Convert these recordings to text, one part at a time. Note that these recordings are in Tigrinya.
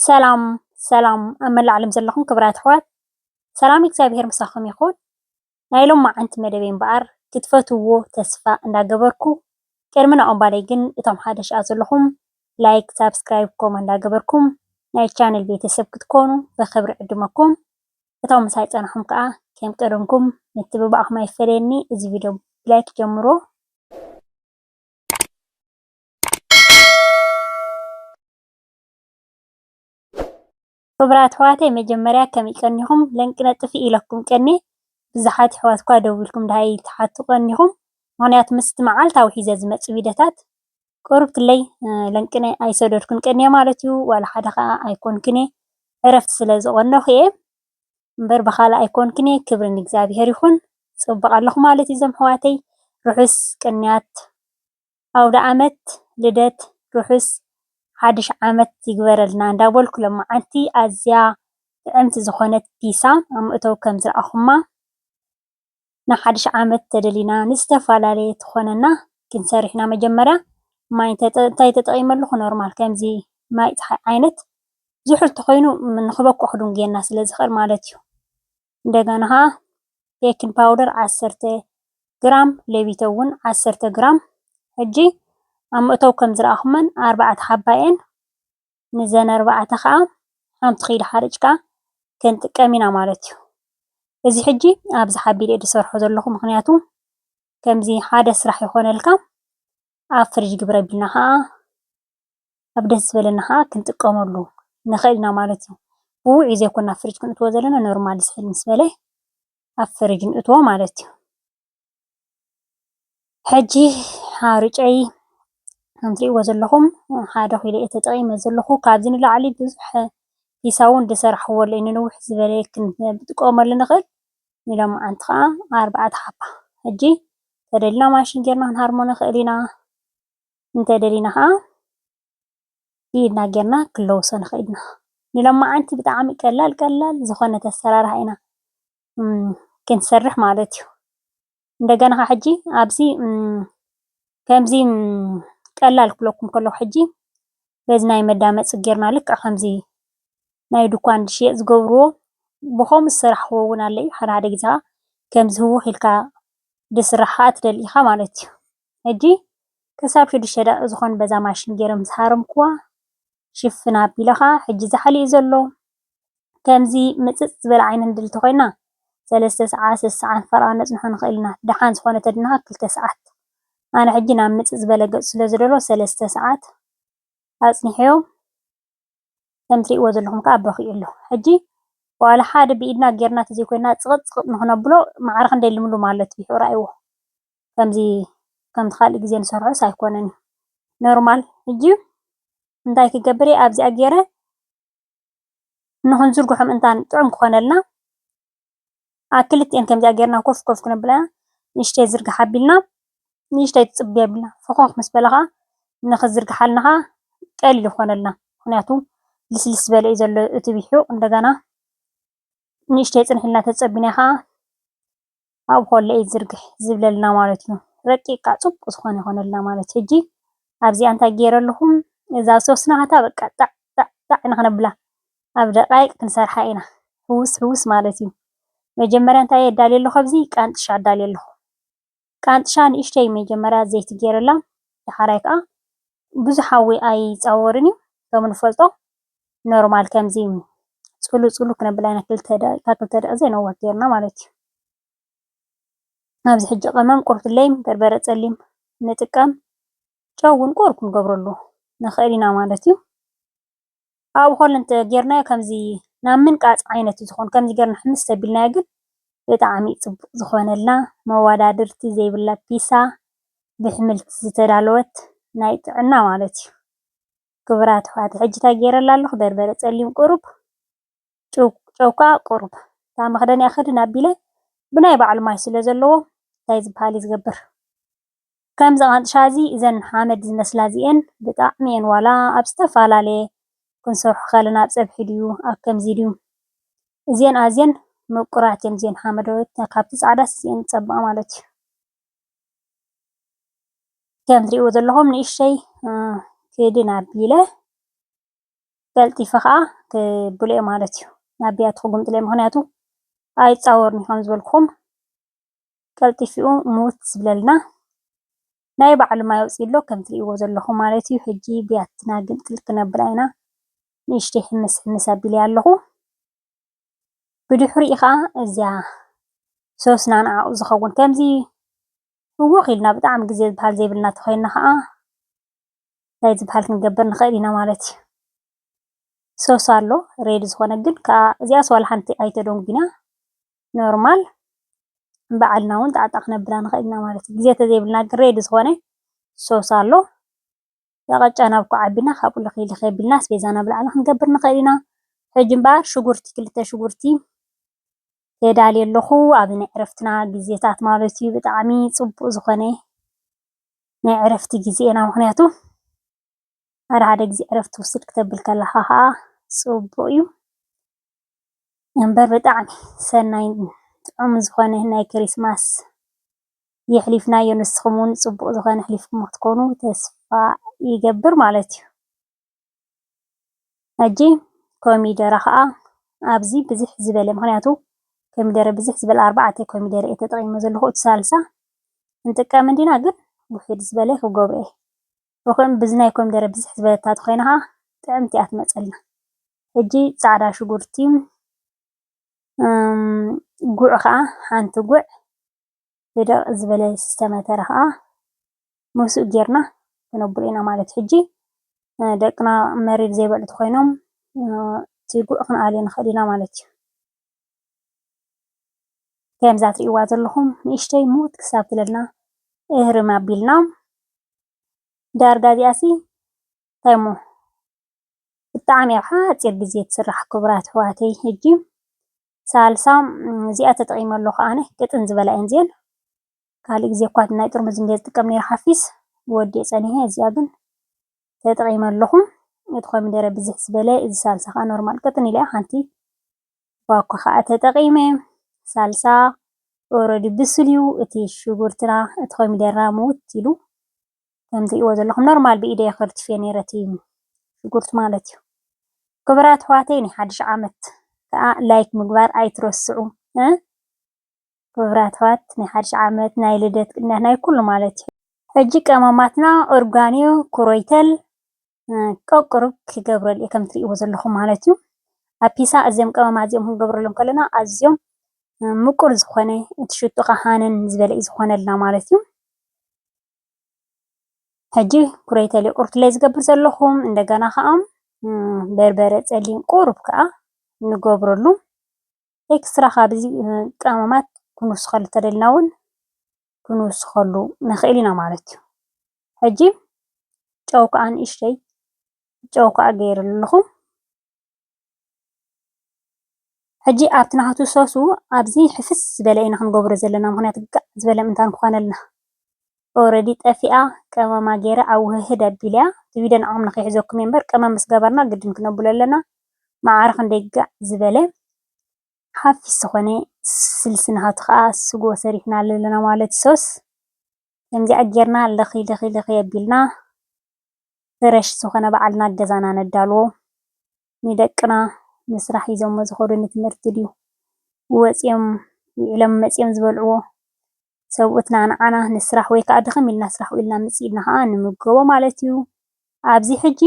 ሰላም ሰላም ኣብ መላእ ዓለም ዘለኹም ክብራት ኣሕዋት ሰላም እግዚኣብሔር ምሳኹም ይኹን። ናይ ሎማዓንቲ መደበይ እምበኣር ክትፈትውዎ ተስፋ እንዳገበርኩ ቅድሚ ናኡ እምባለይ ግን እቶም ሓደሽ ኣብ ዘለኹም ላይክ ሳብስክራይብ ኮማ እንዳገበርኩም ናይ ቻነል ቤተሰብ ክትኮኑ ብኽብሪ ዕድመኩም እቶም ምሳይ ጸንሖም ከዓ ከም ቀደምኩም ምትብባዕኹም ኣይፈለየኒ እዚ ቪድዮ ብላይክ ጀምሮ ክብራት ኣሕዋተይ መጀመርያ ከመይ ቀኒኩም ለንቅነጥፊ ኢለኩም ቀንየ ብዝሓት የሕዋት እኳ ደዊልኩም ደሃይ ትሓቱ ቀኒኩም ምክንያቱ ምስቲ መዓልታ ዊሒዘ ዝመጽእ ቪደታት ቁሩብ ክለይ ለንቅነ ኣይሰደድኩን ቀንየ ማለት እዩ ዋላ ሓደ ከኣ ኣይኮንኩን እየ ዕረፍቲ ስለ ዝቀነኩ እየ እምበር ብካልእ ኣይኮንኩን እየ ክብሪ ንእግዚኣብሄር ይኩን ጽቡቅ ኣለኩ ማለት እዩ ዞም ኣሕዋተይ ርሑስ ቅንያት ኣውደኣመት ልደት ርሑስ ሓዱሽ ዓመት ይግበረልና እንዳበልኩ ሎምዓንቲ ኣዝያ ጥዕምቲ ዝኾነት ፒሳ ኣብ መእተዊ ከምዝረኣኹማ ንሓዱሽ ዓመት ተደሊና ንዝተፈላለየ ትኾነና ግን ሰሪሕና መጀመርያ ማይ እንታይ ተጠቂመ ኣለኹ ኖርማል ከምዚ ማይ ጸሓይ ዓይነት ዝሑል ተኾይኑ ንኽበኩዕ ክድንጉየና ስለዝኽእል ማለትዩ። እንደገና ከኣ ቤኪን ፓውደር ዓሰርተ ግራም ሌቢቶ ዉን ዓሰርተ ግራም ሕጂ ኣብ መእተዊ ከም ዝረኣኹመን ኣርባዕተ ሓባ እየን ንዘን ኣርባዕተ ከኣ ሓንቲ ኪሎ ሓሪጭካ ክንጥቀም ኢና ማለት እዩ እዚ ሕጂ ኣብዚ ሓቢረ እየ ዝሰርሖ ዘለኹ ምኽንያቱ ከምዚ ሓደ ስራሕ ይኾነልካ ኣብ ፍርጅ ግብረ ኣቢልና ከኣ ኣብ ደስ ዝበለና ከኣ ክንጥቀመሉ ንክእል ኢና ማለት እዩ። ብውዑይ ዘይኮና ኣብ ፍርጅ ከነእትዎ ዘለና ኖርማል ዝሕል ምስ በለ ኣብ ፍርጅ ነእትዎ ማለት እዩ። ሕጂ ሓርጨይ ከም ትርእይዎ ዘለኹም ሓደ ኪሎ እየ ተጠቒመ ዘለኹ። ካብዚ ንላዕሊ ብዙሕ ኪሳብ እውን ዝሰራሕክዎ ኣሎ እዩ። ንንውሕ ዝበለ ክንጥቀመሉ ንክእል። ንሎማዓንቲ ከኣ ኣርባዕተ ሓባ ሕጂ ተደሊና ማሽን ጌርና ክንሃርሞ ንክእል ኢና። እንተደሊና ከኣ ብኢድና ጌርና ክንለውሶ ንኽእል ኢና። ንሎማዓንቲ ብጣዕሚ ቀላል ቀላል ዝኾነት ኣሰራርሓ ኢና ክንሰርሕ ማለት እዩ። እንደገና ከኣ ሕጂ ኣብዚ ከምዚ ቀላል ክብለኩም ከለኹ ሕጂ በዚ ናይ መዳመፂ ጌርና ልክዕ ከምዚ ናይ ድንኳን ዝሽየጥ ዝገብርዎ ብኸምኡ ዝሰራሕክዎ እውን ኣሎ እዩ። ሓደ ሓደ ግዜ ከኣ ከምዚ ህውኽ ኢልካ ዝስራሕ ከኣ ትደሊ ኢኻ ማለት እዩ። ሕጂ ክሳብ ሽዱሽተ ደቒቕ ዝኾኑ በዛ ማሽን ጌረ ምስ ሃረምኩዋ ሽፍን ኣቢለ ከኣ ሕጂ ዛሕሊ'ዩ ዘሎ። ከምዚ ምጽጽ ዝበለ ዓይነት ንድል እንተኾይንና ሰለስተ ሰዓት ሰሰዓን ፈረቓን ነጽንሖ ንኽእል ኢና። ደሓን ዝኾነ ተድንኻ ክልተ ሰዓት። ኣነ ሕጂ ናብ ምጽጽ ዝበለ ገጹ ስለ ዝደሎ ሰለስተ ሰዓት ኣጽኒሐዮ ከም ትርእይዎ ዘለኹም ከኣ በኺዩ ኣሎ። ሕጂ ዋላ ሓደ ብኢድና ጌርና ተዘይኮይንና ጽቕጥ ጽቕጥ ንኽነብሎ ማዕረ ክንደይ ልምሉም ኣሎ እቲ ቢሑ ረኣይዎ። ከምዚ ከምቲ ካልእ ግዜ ንሰርሖስ ኣይኮነን እዩ ኖርማል ሕጂ እንታይ ክገብር እየ ኣብዚኣ ጌረ ንኽንዝርግሖም እንታ ጥዑም ክኾነልና ኣብ ክልቲኤን ከምዚኣ ጌርና ኮፍ ኮፍ ክነብላ ንእሽተይ ዝርግሓ ኣቢልና ንእሽተይ ትጽቢ ኣቢልና ፈኾኽ ምስ በላ ኸኣ ንኽዝርግሓልና ኸኣ ቀሊል ይኾነልና ምኽንያቱ ልስልስ ዝበለ እዩ ዘሎ እቲ ቢሑ እንደገና ንእሽተይ ጽንሕ ኢልና ተጸቢና ኸኣ ኣብ ሆሎ ኢድ ዝርግሕ ዝብለልና ማለት እዩ ረቂቃ ፅቡቅ ዝኮነ ይኮነልና ማለት እዩ። ሕጂ ኣብዚኣ እንታይ ገይረ ኣለኩ እዛ ዝሰበስናታ በቃ ጣዕ ጣዕ ጣዕ ኢና ክነብላ ኣብ ደቃይቅ ክንሰርሓ ኢና ሕዉስ ሕዉስ ማለት እዩ። መጀመርያ እንታይ ኣዳልየ ኣለኩ ኣብዚ ቃንጥሻ ኣዳልየ ኣለኩ ቃንጥሻ ንእሽተይ መጀመርያ ዘይቲ ገይረላ ዳሓራይ ከዓ ብዙሕ ሓዊ ኣይፃወርን እዩ ከም እንፈልጦ ኖርማል ከምዚ ፅሉ ፅሉ ክነብል ኢና ክልተ ደቂቃ ክልተ ደቂቃ ዘይነውሕ ጌርና ማለት እዩ። ኣብዚ ሕጂ ቀመም ቁርፍለይ በርበረ ፀሊም ንጥቀም ጨው እውን ቁሩብ ክንገብረሉ ንኽእል ኢና ማለት እዩ። ኣብኡ ከሎ እንተጌርናዮ ከምዚ ናብ ምንቃጽ ዓይነት እዩ ዝኸውን። ከምዚ ጌርና ሕምስ እንተቢልናዮ ግን ብጣዕሚ እዩ ጽቡቕ ዝኾነልና። መወዳድርቲ ዘይብላ ፒሳ ብሕምልቲ ዝተዳለወት ናይ ጥዕና ማለት እዩ። ክቡራት ኣሕዋተይ ሕጂ እንታይ ጌረላ ኣለኹ በርበረ ጸሊም ቁሩብ ጨው ጨው ከኣ ቁሩብ እታ መኽደኒኣ ክድን ኣቢለ ብናይ ባዕሉ ማይ ስለ ዘለዎ እንታይ ዝብሃል እዩ ዝገብር ከምዚ ቃንጥሻ እዚ እዘን ሓመድ ዝመስላ እዚኤን ብጣዕሚ እየን ዋላ ኣብ ዝተፈላለየ ክንሰርሖ ከለና ኣብ ፀብሒ ድዩ ኣብ ከምዚ ድዩ እዚኤን ኣዝየን ምቁራት እየን እዚኤን ሓመደዎት ካብቲ ፃዕዳስ እዚኤን ዝፀብቃ ማለት እዩ ከም ትሪእዎ ዘለኹም ንእሽተይ ክድን ኣቢለ ቀልጢፈ ከዓ ክብልኦ ማለት እዩ ናብ ቢያቲ ክጉምጥለ ምክንያቱ ኣይፃወርን ከም ዝበልኩም ቀልጢፊኡ ምውት ዝብለልና ናይ ባዕሉ ማይ ኣውጺኡ ኣሎ ከምቲ ትርእይዎ ዘለኹም ማለት እዩ ሕጂ ብያትና ግምጥል ክነብላ ኢና ንእሽተይ ሕምስ ሕምስ ኣቢለያ ኣለኹ ብድሕሪኡ ከኣ እዚኣ ሶስና ንዓኡ ዝኸውን ከምዚ ህውኽ ኢልና ብጣዕሚ ግዜ ዝብሃል ዘይብልና ተኾይንና ከኣ እንታይ ዝብሃል ክንገብር ንኽእል ኢና ማለት እዩ ሶስ ኣሎ ሬድ ዝኾነ ግን ከኣ እዚኣስ ዋላ ሓንቲ ኣይተደንጉይና ኖርማል ባዕልና ውን ጣዕ ጣዕ ክነብላ ንክእል ኢና ማለት እዩ። ግዜ ተዘይብልና ግን ሬዲ ዝኮነ ሶስ ኣሎ እዛ ቅጫ ናብ ኳዕ ኣቢልና ካብኡ ልክይ ልክይ ኣቢልና ኣስቤዛና ኣብ ላዕሊ ክንገብር ንክእል ኢና። ሕጂ እምበኣር ሽጉርቲ ክልተ ሽጉርቲ የዳሊ ኣለኩ ኣብዚ ናይ ዕረፍትና ግዜታት ማለት እዩ ብጣዕሚ ጽቡቅ ዝኮነ ናይ ዕረፍቲ ግዜና ምክንያቱ ሓደ ሓደ ግዜ ዕረፍቲ ውስድ ክተብል ከለካ ከኣ ጽቡቅ እዩ። እምበር ብጣዕሚ ሰናይን ጥዑምን ዝኮነ ናይ ክሪስማስ የሕሊፍናዮ ንስኩም ውን ፅቡቅ ዝኮነ ኣሕሊፍኩሞ ክትኮኑ ተስፋ ይገብር ማለት እዩ ሕጂ ኮሚደረ ከኣ ኣብዚ ብዝሕ ዝበለ ምክንያቱ ኮሚደረ ብዝሕ ዝበለ ኣርባዕተ ኮሚደረ እየ ተጠቂመ ዘለኩ እቲ ሳልሳ ክንጥቀም እንዲና ግን ውሕድ ዝበለ ክገብሮ እየ ብኩእን ብዝናይ ኮሚደረ ብዝሕ ዝበለት ተኮይና ከኣ ጥዕምቲ እያ ትመፀልና። ሕጂ ጻዕዳ ሽጉርቲ ጉዕ ከኣ ሓንቲ ጉዕ ብደቅ ዝበለ ዝተመተረ ከኣ ምስኡ ጌርና ክነብሎ ኢና ማለት ሕጂ ደቅና መሪር ዘይበልዑ ተኾይኖም እቲ ጉዕ ክንኣልዮ ንኽእል ኢና ማለት እዩ። ከምዛ ትርእይዋ ዘለኹም ንእሽተይ ምውት ክሳብ ትብለና እህርም ኣቢልና ዳርጋ እዚኣሲ እንታይ እሞ ብጣዕሚ ኣብ ሓፂር ግዜ ትስራሕ ክቡራት ኣሕዋተይ ሕጂ ሳልሳ እዚኣ ተጠቒመ ኣለኹ ኣነ ቅጥን ዝበላ እየን እዚኤን ካልእ ግዜ እኳ ናይ ጥርሙዝ እንድየ ዝጥቀም ነይረ ሓፊስ ወዲኤ ፀኒሐ እዚኣ ግን ተጠቒመ ኣለኹ እቲ ኮሚደረ ብዝሕ ዝበለ እዚ ሳልሳ ከዓ ኖርማል ቅጥን ኢለ ሓንቲ ባኮ ከዓ ተጠቒመ ሳልሳ ኦረዲ ብስል እዩ እቲ ሽጉርትና እቲ ኮሚደረና ምውት ኢሉ ከም ትሪእዎ ዘለኹም ኖርማል ብኢደይ እየ ከርቲፈዮ ነይረ እቲ ሽጉርቲ ማለት እዩ። ክቡራት ኣሕዋተይ ናይ ሓድሽ ዓመት ከዓ ላይክ ምግባር ኣይትረስዑ። ክቡራት ኣሕዋት ናይ ሓድሽ ዓመት ናይ ልደት ቅንያት ናይ ኩሉ ማለት እዩ። ሕጂ ቀመማትና ኦርጋኒዮ ኩሮይተል ቀቁርብ ክገብረሉ እየ ከም ትሪእዎ ዘለኹም ማለት እዩ። ኣብ ፒሳ እዚኦም ቀመማት እዚኦም ክንገብረሎም ከለና ኣዝዮም ምቁር ዝኾነ እቲ ሽቱ ከዓ ሃነን ዝበለ እዩ ዝኾነልና ማለት እዩ። ሕጂ ኩሬተሌ ቁርትሌ ዝገብር ዘለኹ እንደገና ከዓ በርበረ ፀሊም ቁሩብ ከዓ ንገብረሉ ኤክስትራ ካብዚ ቀመማት ክንውስኸሉ ተደልና እውን ክንውስኸሉ ንኽእል ኢና ማለት እዩ ሕጂ ጨው ከዓ ንእሽተይ ጨው ከዓ ገይረሉ ኣለኹ ሕጂ ኣብቲ ናቱ ሶሱ ኣብዚ ሕፍስ ዝበለ ኢና ክንገብሮ ዘለና ምክንያቱ ጋዕ ዝበለ ምእንታን ክኮነልና ኦረዲ ጠፊኣ ቀመማ ጌረ ኣውህህድ ኣቢለያ እቲ ቪድዮ ንዓኩም ንከይሕዘኩም እየ እምበር ቀመም ምስ ገበርና ግድን ክነብሎ ኣለና ማዓረ ክንደይ ጋዕ ዝበለ ሓፊስ ዝኮነ ስልሲ ናቱ ካኣ ስጎ ሰሪሕናሉ ኣለና ማለት እዩ ሶስ ከምዚኣ ጌርና ለኪለኪለኪ ኣቢልና ፍረሽ ዝኾነ ባዕልና ኣብ ገዛና ነዳልዎ ንደቅና ንስራሕ ሒዞሞ ዝኸዱ ንትምህርቲ ድዩ ወጽዮም ዊዕሎም መጽዮም ዝበልዕዎ ሰብኡትና ንዓና ንስራሕ ወይ ከኣ ድኽም ኢልና ስራሕ ዊዕልና ምጽ ኢልና ከኣ ንምገቦ ማለትዩ ኣብዚ ሕጂ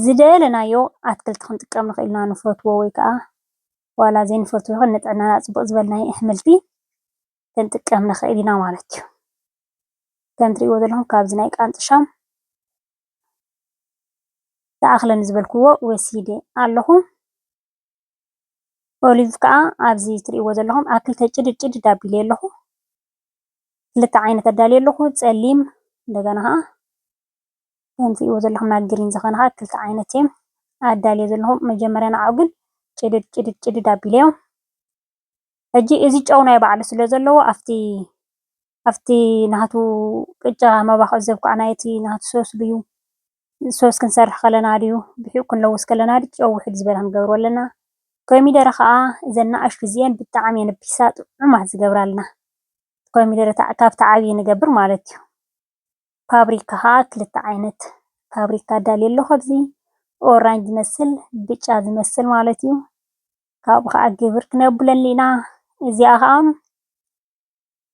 ዝደለናዮ ኣትክልቲ ክንጥቀም ንኽእል ኢና ንፈትዎ ወይ ከኣ ዋላ ዘይንፈትዎ ይኹን ንጥዕናና ጽቡቕ ዝበልናዮ እሕምልቲ ክንጥቀም ንኽእል ኢና ማለት እዩ። ከም እትሪእዎ ዘለኹም ካብዚ ናይ ቃንጫ ሻም ዝኣኽለኒ ዝበልክዎ ወሲደ ኣለኹ። ኦሊቭ ከዓ ኣብዚ እትሪእዎ ዘለኹም ኣብ ክልተ ጭድድ ጭድድ ኣቢለ ኣለኹ። ክልተ ዓይነት ኣዳልየ ኣለኹ ፀሊም እንደገና ከዓ ከም እትሪእዎ ዘለኹም ናብ ግሪን ዝኾነ ከዓ ክልተ ዓይነት እዮም ኣዳልየ ዘለኹ። መጀመርያ ንዓኡ ግን ጭድድ ጭድድ ጭድድ ኣቢለዮም ሕጂ እዚ ጨው ናይ ባዕሉ ስለ ዘለዎ ኣብቲ ኣብቲ ናቱ ቅጫ መባክዒ ዘብክዓ ናይ እቲ ናቱ ሶስ ድዩ ሶስ ክንሰርሕ ከለና ድዩ ብሒቁ ክንለውስ ከለና ድዩ ጨው ውሕድ ዝበለ ክንገብሮ ኣለና። ኮሚደረ ከዓ እዘን ንኣሽቱ እዚኤን ብጣዕሚ እየን ፒሳ ጥዑማት ዝገብራልና ኮሚደረ ካብቲ ዓብዪ ንገብር ማለት እዩ። ፋብሪካ ከዓ ክልተ ዓይነት ፋብሪካ ኣዳልየ ኣለኹ ኣብዚ ኦራንጅ ዝመስል ብጫ ዝመስል ማለት እዩ። ካብኡ ከዓ ግብር ክነብለሉ ኢና እዚኣ ከዓ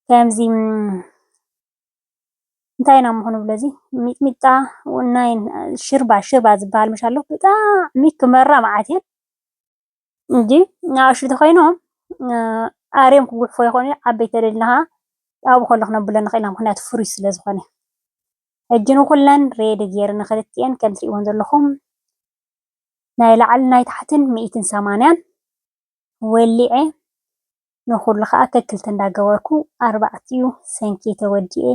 ከምዚ እንታይ ኢና እሞ ክንብሎ እዚ ሚጥሚጣ ናይ ሽርባ ሽርባ ዝበሃል መሽ ኣሎ ብጣዕሚ ክመራ መዓት እየን እንጂ ንኣሽቱ ተኮይኖም ኣርዮም ክጉሕፎ ይኮኑ ዓበይቲ ተደሊና ከዓ ኣብኡ ከሎ ክነብሎ ንክእል ኢና ምክንያቱ ፍሩይ ስለ ዝኮነ ሕጂ ንኩለን ሬዲ ገይረ ንክልቲኤን ከም እትሪእዎን ዘለኩም ናይ ላዕልን ናይ ታሕትን ሚኢትን ሰማንያን ወሊዐ ንኹሉ ከኣ ከክልተ እንዳገበርኩ ኣርባዕቲኡ ሰንኪ ተወዲኤ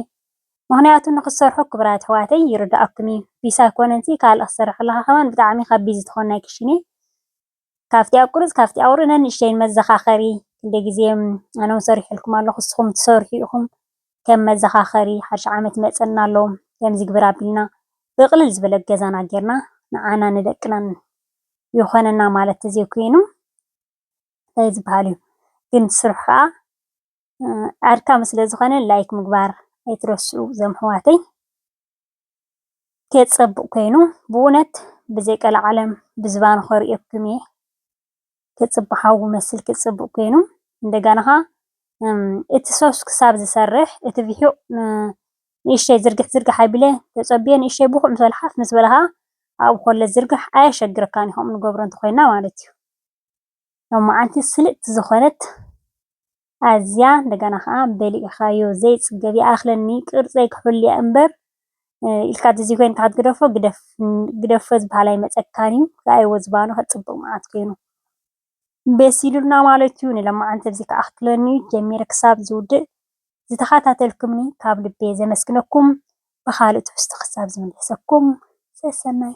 ምኽንያቱ ንኽትሰርሑ ክብራት ኣሕዋተይ ይርዳኣኩም እዩ ቢስ ኣይኮነንሲ ካልእ ክትሰርሕ ከለኻ ከማን ብጣዕሚ ካብ ቢዚ ትኾን ናይ ክሽኔ ካብቲ ኣብ ቁሩጽ ካብቲ ኣውር ነንእሽተይን መዘኻኸሪ ክንደይ ግዜ ኣነውን ሰሪሐልኩም ኣለኹ ንስኹም ትሰርሑ ኢኹም ከም መዘኻኸሪ ሓድሽ ዓመት ይመፀና ኣሎ ከምዚ ግበር ኣቢልና ብቅልል ዝበለ ገዛና ገይርና ንዓና ንደቅናን ይኾነና ማለት ተዘይኮይኑ እንታይ ዝበሃል እዩ ግን ስርሑ ከዓ ኣድካሚ ስለዝኾነ ላይክ ምግባር ኣይትረስዑ ዘም ኣሕዋተይ። እንዴት ጸብቅ ኮይኑ ብእውነት ብዘይ ቀላዓለም ብዝባኑ ከርእየኩም እየ ክጽቢ ሓዊ መስልኪ ጽብቅ ኮይኑ እንደገና ከኣ እቲ ሶስ ክሳብ ዝሰርሕ እቲ ቪሑቅ ንእሽተይ ዝርግሕ ዝርግሕ ኣቢለ ተጸብየ ንእሽተይ ብኩዕ ምስ በለ ሓፍ ምስ በለ ከኣ ኣብኡ ከሎ ዝርጋሕ ኣየሸግረካን እዩ ከምኡ ንገብሮ እንተኮይና ማለት እዩ። ሎማዓንቲ ስልጥቲ ዝኮነት ኣዝያ እንደገና ከዓ በሊዕካዮ ዘይፅገብ ይኣክለኒ ቅርፀይ ክሕሉያ እምበር ኢልካ ተዘይ ኮይንካ ክትግደፎ ግደፎ ዝበሃል ኣይመፀካን እዩ ረኣይዎ ዝባኑ ከፅብቅ ማዓት ኮይኑ በሲሉልና ማለት እዩ ንሎማዓንቲ ኣብዚ ክኣክለኒ እዩ ጀሚረ ክሳብ ዝውድእ ዝተከታተልኩምኒ ካብ ልበይ ዘመስግነኩም ብካልእ ትሕዝቶ ክሳብ ዝምለሰኩም ሰሰናዩ።